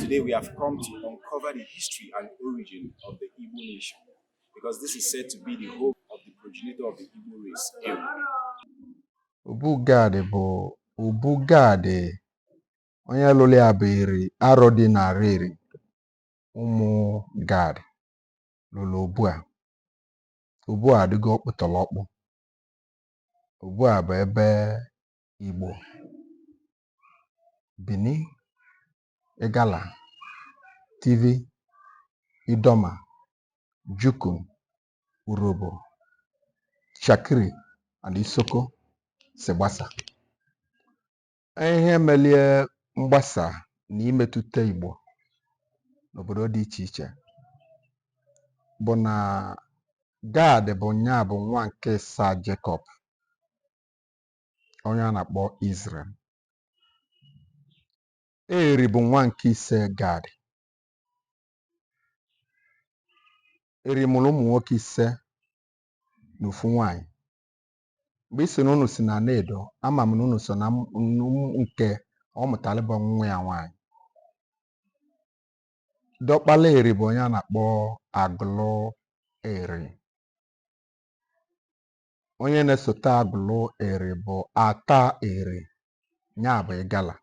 Today we have come to uncover the history and origin of the Igbo nation because this is said to be the home of the progenitor of the Igbo race. Obu Gad bụ Obu Gad onye lụrụ ya bụ Eri Arọdị na Areli ụmụ Gad lụrụ obu a obu a adịgo ọkpụtọrọkpụ obu a bụ ebe Igbo Bini, Igala, Tiv, Idoma, Jukun, Urhobo, Itsekiri and Isoko si gbasa. Ihe melie mgbasa na-emetụta Igbo n'obodo dị iche iche bụ na Gad bụ nya bụ nwa nke ịsaa Jekọb onye a na-akpọ Izrel. Eri bụ nwa nke ise Gad. Eri mụrụ ụmụ nwoke ise na ofu nwaanyị. Mgbe ị sị na unu si na Nedo, ama m na unu so na m- m- nke ọ mụtara bụ nwa ya nwaanyị. Diọkpala Eri bụ onye a na-akpọ Agụlụ Eri. Onye na-esote Agụlụ Eri bụ Ata Eri, ya bụ Ịgala.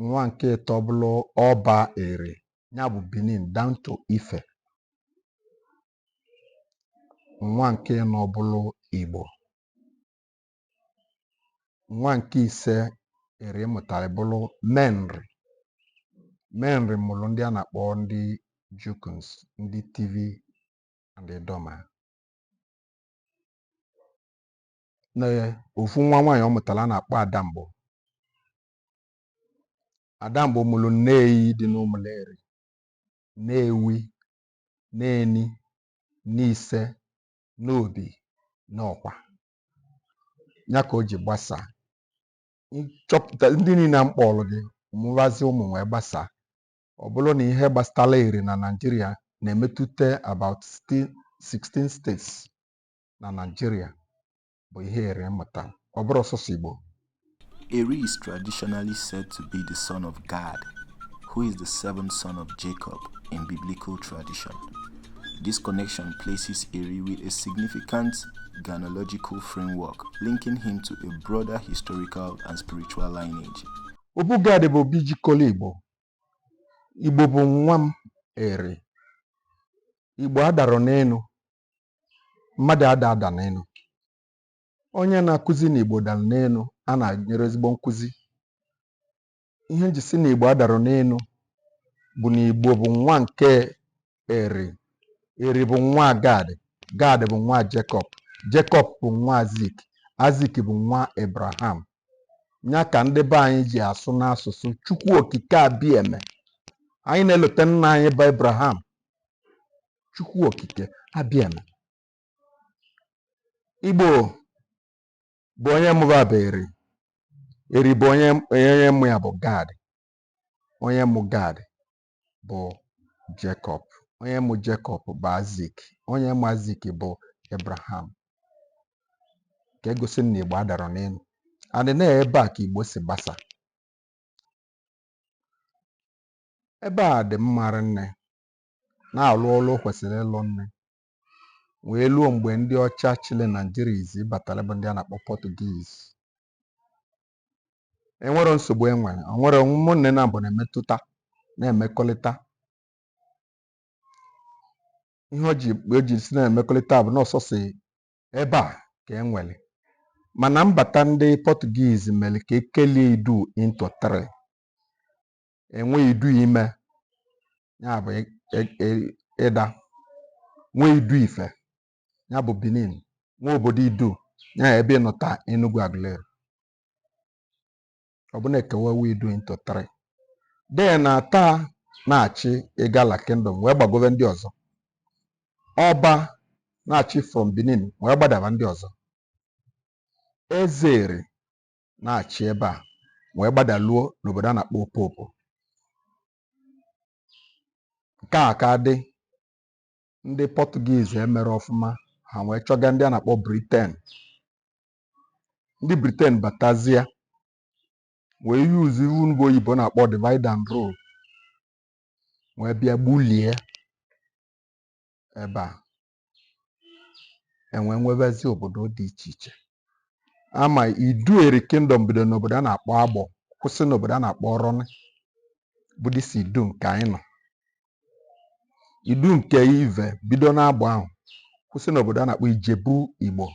Nwa nke ịtọ bụrụ Ọba Eri, ya bụ Benin down to Ife. Nwa nke ịnọ bụrụ Igbo. Nwa nke ise Eri mụtara bụrụ Menri. Menri mụrụ ndị a na-akpọ ndị Jukuns, ndị Tiv and Idoma na ofu nwa nwaanyị ọ mụtara a na-akpọ Adamgbo Adamgbo mụrụ Nneyi dị n'Ụmụleri Nnewi Nneni Nneise Nnobi Nnọkwa ya ka o ji gbasaa nchọpụta ndị niile a m kpọrọ gị mụbazi ụmụ wee gbasaa Ọ bụrụ na ihe gbasatara Eri na Naịjirịa na-emetụta about 16 states na Naịjirịa bụ ihe Eri mụta, ọ bụrọ sọsọ Igbo. Eri is traditionally said to be the son of Gad, who is the seventh son of Jacob in biblical tradition. This connection places Eri with a significant genealogical framework linking him to a broader historical and spiritual lineage. Obu Gad bụ obi jikọrọ Igbo Igbo bụ nwa m Eri. Igbo adarọ n'enu. Mmadụ ada ada n'enu. Onye a na-akụzi na Igbo dara n'enu a na-enyerọ ezigbo nkụzi. Ihe m ji sị na Igbo adarọ n'enu bụ na Igbo bụ nwa nke Eri. Eri bụ nwa Gad. Gad bụ nwa Jekọb. Jekọb bụ nwa Aizik. Aizik bụ nwa Ebraham. Ya ka ndị be anyị ji asụ n'asụsụ Chukwu Okike Abieme. Anyị na-elote nna anyị bụ Ebraham. Chukwu Okike Abieme. Igbo bụ onye mụba bụ Eri. Eri bụ onye onye mụ ya bụ Gad. Onye mụ Gad. bụ Jekọb, onye mụ Jekọb bụ Aizik, onye mụ Aizik bụ Abraham. Ka e gosi na Igbo adarọ n'enu. Adị na ebe a ka Igbo si gbasa. Ebe a dị mma rinne na-alụ ọlụ kwesịrị ịlụ nne wee luo mgbe ndị ọcha chịlị Naijiria izizi batalị bụ ndị a na-akpọ Portuguese enwerọ nsogbu e nwere e nwere ụmụnne naabọ na-emetụta na-emekọlịta ihe o ji o ji sị na-emekọlịta bụ na ọ sọsọ ebe a ka e nwere mana mbata ndị Portuguese mere ka e kelie Idu into three e nwee Idu Ime ya bụ Idah nwee Idu Ife ya bụ Benin nwee obodo Idu ya ebe ị nọ taa Enugwu Aguleri ọ bụ na e kewawo Idu into three then Attah na-achị Igala kingdom wee gbagobe ndị ọzọ Ọba na-achị from Benin wee gbadaba ndị ọzọ Eze Eri na-achị ebe a wee gbadaluo n'obodo a na-akpọ Opopo nke a ka dị ndị Portuguese emerọ ọfụma ha wee chọga ndị a na-akpọ Britain ndị Britain batazia wee yuzuo ive ụmụ oyibo na-akpọ divide and rule wee bịa gbulie ebe a e wee nwebazi obodo dị iche iche ama Idu Eri kingdom bido n'obodo a na-akpọ Agbor kwụsị n'obodo a na-akpọ Oron bụ this Idu nke anyị nọ Idu nke Ive bido n'Agbor ahụ kwụsị n'obodo a na-akpọ Ijebu Igbo.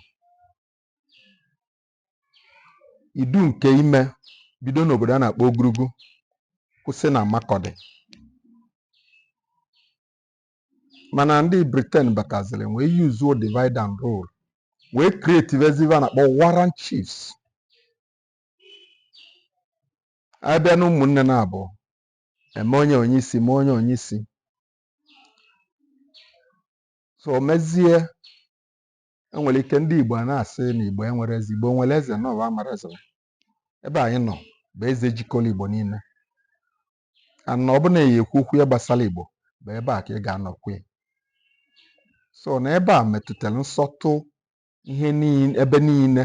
Idu nke Ime bido n'obodo a na-akpọ Ogurugu kwụsị na Makurdi. Mana ndị Britain bataziri wee yuzuo divide and rule wee kretivezi ive a na-akpọ warrant chiefs. A bịa na ụmụnne naabọ eme onye onye isi mee onye onye isi so o mezie enwere ike ndị igbo a na-asị na igbo enwero eze igbo nwere eze na ọwa mara eze ebe anyị nọ bụ eze jikọrọ igbo niile na ọ bụ na a ya-ekwu okwu ya gbasara igbo bụ ebe a ka a ga-anọ kwue so na ebe a metụtara nsọtụ ihe niile ebe niile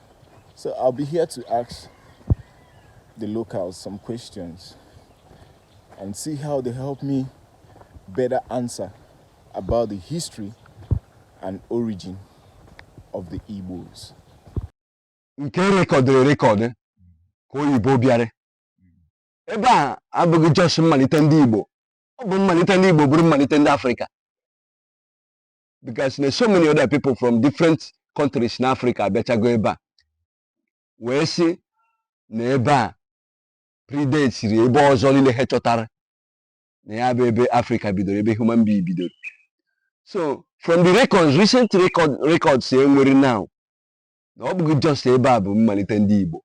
So I'll be here to ask the locals some questions and see how they help me better answer about the history and origin of the Igbos. nke rekọdịrị record ka oyibo bịara ebe a abụghị just mmalite ndị igbo ọ bụ mmalite ndị igbo bụrụ mmalite ndị afrịka because na so many other people from different countries na Africa abịachago ebe a wee sị na ebe a predatesịrị ebe ọzọ niile ha chọtara na ya bụ ebe Africa bidoro ebe human being bidoro so from the records recent record records e nwere now na ọ bụghị just ebe a bụ mmalite ndị Igbo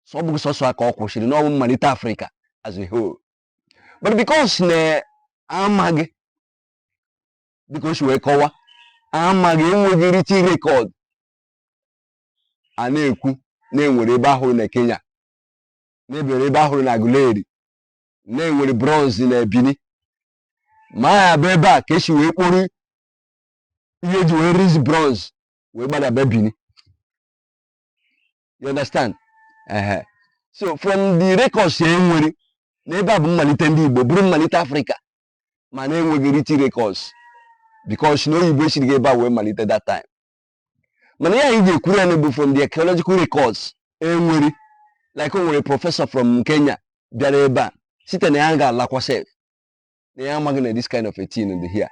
so ọ bụghị sọsọ ya ka ọ kwụsịrị na ọ bụ mmalite Africa as a whole but because na amaghị dịka o si wee kọwa amaghị enweghị written record a na-ekwu na e nwere ebe a hụrụ na Kenya na e nwere ebe a hụrụ na Aguleri na e nwere bronze na Benin ma ya bụ ebe a ka e si wee kpụrụ ihe e ji wee riz bronze wee gbadaba Benin you understand ehe so from the records e nwere na ebe a bụ mmalite ndị Igbo bụrụ mmalite Afrịka mana enweghị written records because na oyibo esirighị ebe a wee malite that time mana ihe anyị ga-ekwuru ya bụ from the archaeological records e nwere like o nwere professor from Kenya bịara ebe a site na ya ga-alakwa sef na ya amaghị na this kind of a thing dị here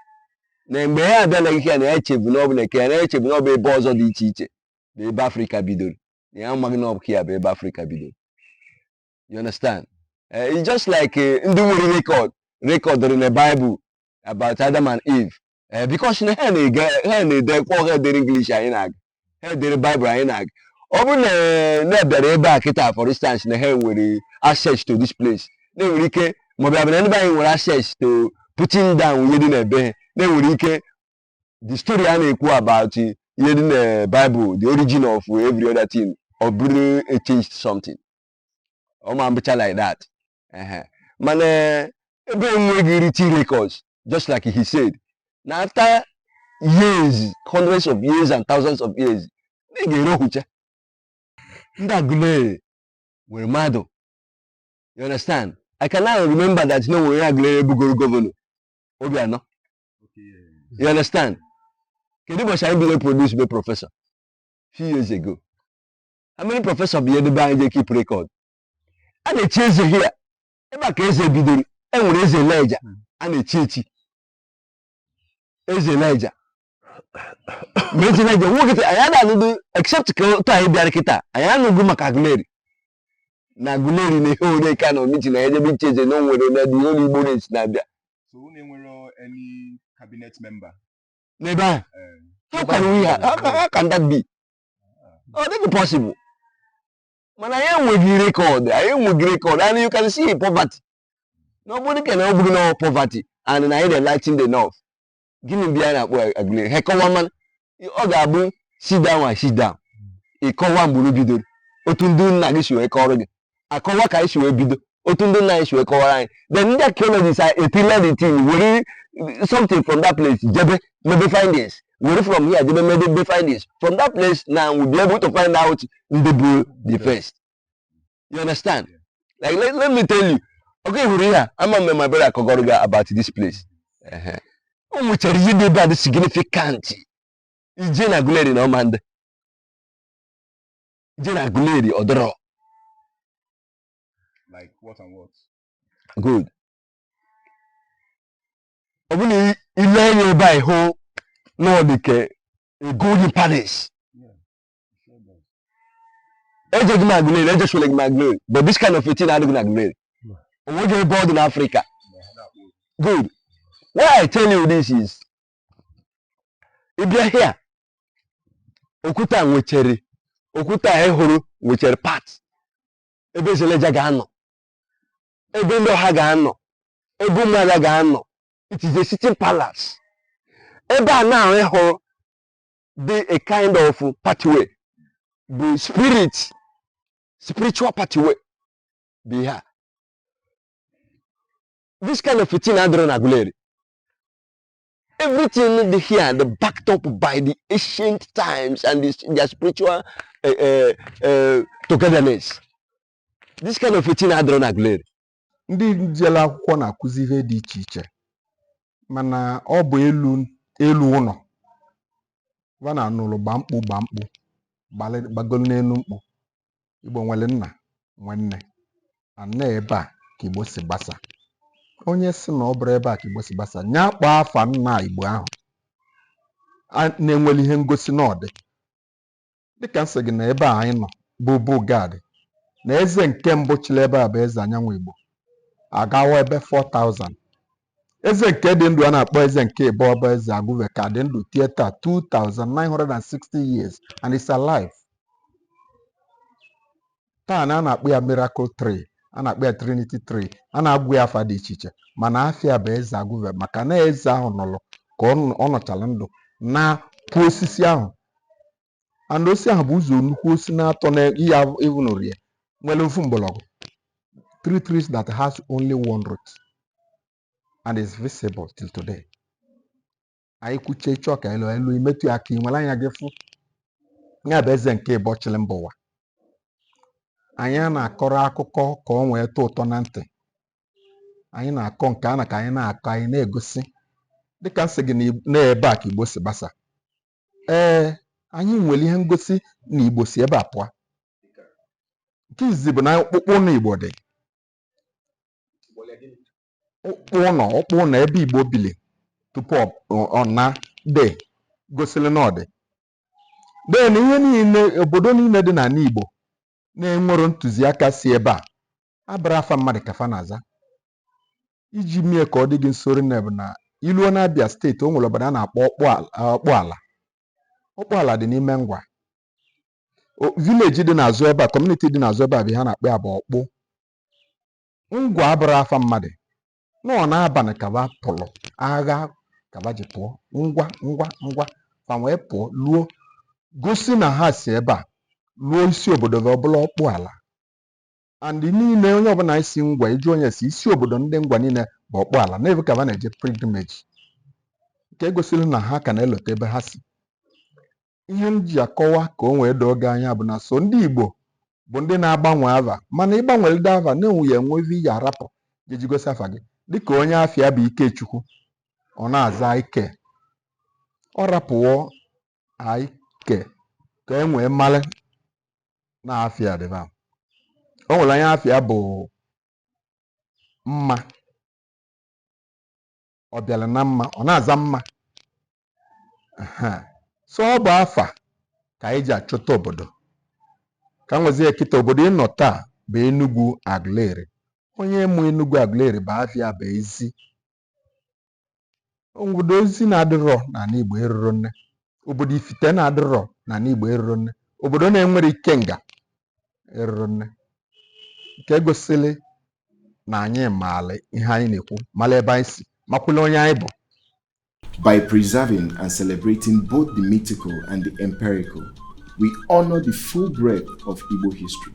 na mgbe ya abịala here na ya echebu na ọ bụ na Kenya echebu na ọ bụ ebe ọzọ dị iche iche na ebe afrịka bidoro na ya amaghị na ọ bụ ya bụ ebe afrịka bidoro you understand Eh, it's just like eh, ndị nwere record rekọdịrị na Bible about Adam and Eve Eh, because na ha na-ede ha na-ede kwa ha dere English anyị na-agụ ha dere Bible anyị na-agụ ọ bụrụ na eh, na ha bịara ebe a kịta for instance na ha nwere access to this place na e nwere ike maọbụ ya bụ na ndị be anyị nwere access to putting down ihe dị n'ebe a na e nwere ike the story a na-ekwu about ihe dị na Bible the origin of every other thing ọ bụrụ a changed something ọ ma mbụcha like that mana eh, ebe enweghị written records just like he said na after years hundreds of years and thousands of years na ị ga-ere ohucha ndị Aguleri nwere mmadụ you understand i can now remember that na o nwere Aguleri bụgoro gọvanọ Obiano you understand kedu ụbọchị anyị bido produce be prọfesọ few years ago how many professor bụ ihe ebe anyị je keep record a na-echi eze here ebe a ka eze bidoro e nwere eze Lejja a na-echi echi eze Lejja ma eze Lejja nwoke taa, anyị ada anụdụ except ka otu anyị bịara kịta anyị anụghị maka Aguleri na Aguleri na ihe ore ka na omiti na ya jebe ichi eze na o nwere na dị olu Igbo na-esi na-abịa So unu enwere any cabinet member? n'ebe ahụ Eh, How can we ha- how can, how can that be? ọ dịghị possible mana anyị enweghị rekọd anyị enweghị rekọd and you can see poverty na ọ bụrụ ka na ọ bụghị na poverty and na anyị adị enlightened enough gịnị bụ ihe a na-akpọ Aguleri ha kọwa mana ọ ga-abụ sit down and sit down ị kọwa mgbe unu bidoro otu ndị nna gị si wee kọrọ gị akọwa ka anyị si wee bido otu ndị nna anyị si wee kọwara anyị then ndị archaeologists are a pillar the thing were something from that place jebe mebe findings were from here jebe mebe findings from that place now we be able to find out ndị bụ the first you understand like let, let me tell you oge hụrụ ihe a ama mgbe my brother kọgoro gị about this place Ehe. o nwechara ihe dị ebe a dị significant i je na Aguleri na ọ ma adị je na Aguleri ọ dịrọ. Like what and what? Good. Ọ bụ na i lee anya ebe a ị hụ na ọ dị ka a golden palace. Ejeghị m Aguleri, eje shole gị na Aguleri, but this kind of a thing adịghị na Aguleri. O nweghị ebe ọ dị n'Africa. Good. Why I tell you this is, ị bịa here, okwute a nwechere okwute a ị hụrụ nwechere part ebe eze Lejja ga-anọ ebe ndị ọha ga-anọ ebe ụmụada ga-anọ it is a sitting palace ebe a na-ahụ ị hụrụ dị a kind of pathway bụ spirit spiritual pathway bụ ihe a this kind of a thing adịrọ na Aguleri Everything here, the backed up by the ancient times and this, their spiritual uh, uh, uh, togetherness. This kind of a thing adịrọ na Aguleri. Ndị jele akwụkwọ na-akụzi ihe dị iche iche mana ọ bụ elu elu ụnọ va na anụlụ gba mkpu gba mkpu gbagolu n'enu mkpu Igbo nwere nna nwee nne na ebe a ka Igbo si gbasa onye sị na ọ bụrọ ebe a ka Igbo si gbasa nya kpọọ afa nna Igbo ahụ na e nwere ihe ngosi na ọ dị dịka m sị gị na ebe a anyị nọ bụ Obu Gad na eze nke mbụ chịrị ebe a bụ Eze Anyiamigbo agawa ebe 4000 eze nke dị ndụ a na-akpọ eze nke ịbọọ bụ Eze Agụve ka dị ndụ till taa 2960 years and is alive taa na a na-akpọ ya miracle tree a na-akpọ ya trinity tree a na-agwụ ya afa dị iche iche mana afa ya bụ Eze Agụve maka na eze ahụ nọrọ ka ọ nọchala ndụ naa kụ osisi ahụ and osisi ahụ bụ ụzọ nnukwu osisi naatọ na ihe ịvụnụrụ ya nwere ofu mgbọrọgwụ three trees that has only one root and is visible till today anyị kwuchaa ị chọọ ka e luo e luo i metụ ya aka i were anya gị fụ ya bụ eze nke ịbọọ chịrị mba ụwa anyị ana-akọrọ akụkọ ka o wee tọọ ụtọ na ntị anyị na-akọ nke a na ka anyị na-akọ anyị na-egosi dịka m sị gị na ebe a ka igbo si gbasa Ee, anyị nwere ihe ngosi na Igbo si ebe a pụọ. Nke izizi bụ na ọkpụkpụ ụnọ Igbo dị. Ọkpụ ụnọ ọkpụ ụnọ ebe Igbo bili tupu ọ ọ naa dị gosiri na ọ dị. Then ihe niile obodo niile dị n'anị Igbo na e nwere ntụziaka si ebe a abụrọ afa mmadụ ka fa na-aza iji mee ka ọ dị gị nso rinne bụ na i luo n'Abia steeti o nwere obodo a na-akpọ Ọkpụala Ọkpụala Ọkpụala dị n'ime Ngwa O- vileji dị n'azụ ebe a kọmuniti dị n'azụ ebe a bụ ihe a na-akpọ ya bụ Ọkpụ Ngwa abụrọ afa mmadụ na ọ n'abanị ka ba pụrụ agha ka ba ji pụọ ngwa ngwa ngwa fa wee pụọ luo gosi na ha si ebe a luo isi obodo fa ọ bụrụ Ọkpụala and niile onye ọbụla si Ngwa ị jụọ onye si isi obodo ndị Ngwa niile bụ Ọkpụala na ebe ahụ ka ha na-eje pilgrimage nke gosiri na ha ka na-elota ebe ha si ihe m ji akọwa ka o wee doo gị anya bụ na sọ ndị Igbo bụ ndị na-agbanwe ava mana ị gbanwelide ava na-enwe ya enwe ive ị ya-arapụ ga-eji gosi afa gị dịka onye afa ya bụ Ikechukwu ọ na-aza Ike ọ rapụwo Ike ka e wee malụ na afa ya dịba o nwere onye afa ya bụ mma ọ bịara na mma ọ na-aza mma Aha. so ọ bụ afa ka anyị ji achọta obodo ka m wezie kịta obodo ị nọ taa bụ Enugu Aguleri onye mụ Enugu Aguleri bụ afa ya bụ Ezi obodo Ezi na-adịrọ n'anị Igbo eruro nne obodo Ifite na-adịrọ n'anị Igbo eruro nne obodo na-enwerọ Ikenga eruro nne nke gosili na anyị maala ihe anyị na-ekwu mala ebe anyị si makwụla onye anyị bụ By preserving and celebrating both the mythical and the empirical, we honor the full breadth of Igbo history.